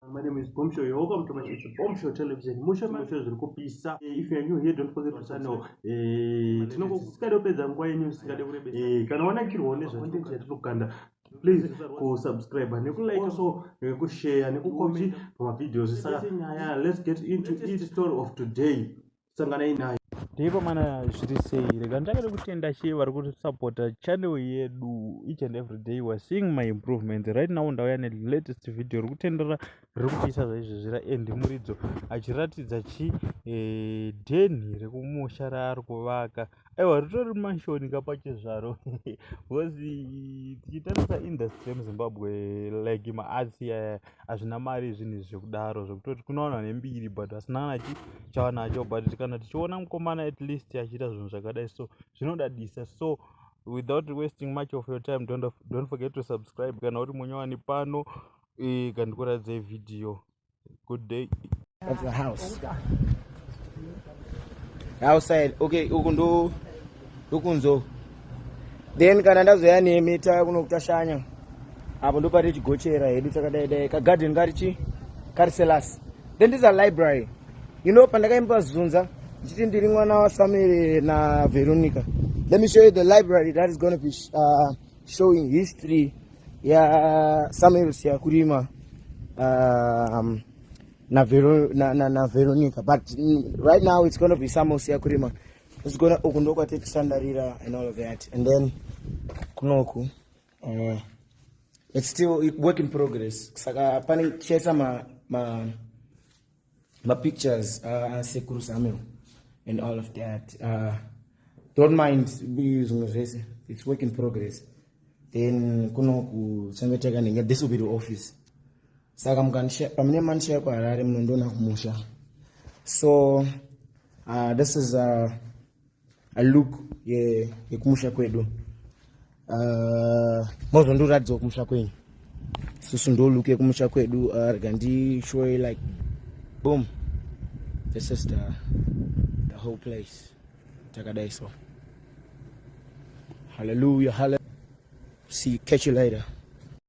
My name is Bombshell. You're welcome to my it's Bombshell Television. Mushe mushe zviri kupisa. Eh, if you are new here, don't forget to sign up. Eh, tinokukada kupedza nguva yenyu isikade kurebesa. Eh, kana wanakirwa nezvacontent yatinokanda please kusubscribe nekulike also nekushare nekucomment pamavideos saka nyaya let's get into each story of today sanganai nayo ndipo mana zviri sei rega ndakada kutenda chii vari kusapota channel yedu each and every day weare seeing my improvement right now ndauya nelatest video ri kutendera riri kupisa zvaizvezvira and muridzo achiratidza chi eh, denhi rekumusha raari kuvaka aiwa ritori manshoni ka pachezvaro bcause tichitarisa industry yemuzimbabwe like maarts iyaya hazvina mari zvinhu izvi zvekudaro zvekutoti kunowana nembiri but asina kana chi chawanacho but kana tichiona mukomana at least achiita zvinhu zvakadai so zvinodadisa so without wasting much of your time don't, don't forget to subscribe kana uri munyowani pano e, kandikuratidze vhidhiyo Good day. Of the house. Outside. Okay, uku ndo ndokunzo. Then kana ndazoya nemi taya kuno kutashanya. Apo ndo pari chigochera hedu takadai dai. Ka garden kari chi? Kari cellas. Then this is a library. You know pandakaimba zunza ndichiti ndiri mwana waSamuel na Veronica. Let me show you the library that is going to be uh, showing history yasamuel siyakurima um, naveronica na, na, na Veronica. but mm, right now it's gonna be samuel siyakurima it's gonna uku ndokwatetitandarira and all of that and then kunoku uh, it's still work in progress saka pane tichaisa ma, ma mapictures uh, sekuru samuel and all of that uh, don't mind zvimwe zvese its work in progress then kuno kuchangeteka ndenge this will be the office saka pamune manishaya kuharare munondiona kumusha so uh, this is uh, look yekumusha ye kwedu uh, mozondiratidzawo kumusha kwenyu susu ndo look yekumusha kwedu uh, rega ndishowe like boom this is the, the whole place takadai so hallelujah hallelujah see catch you later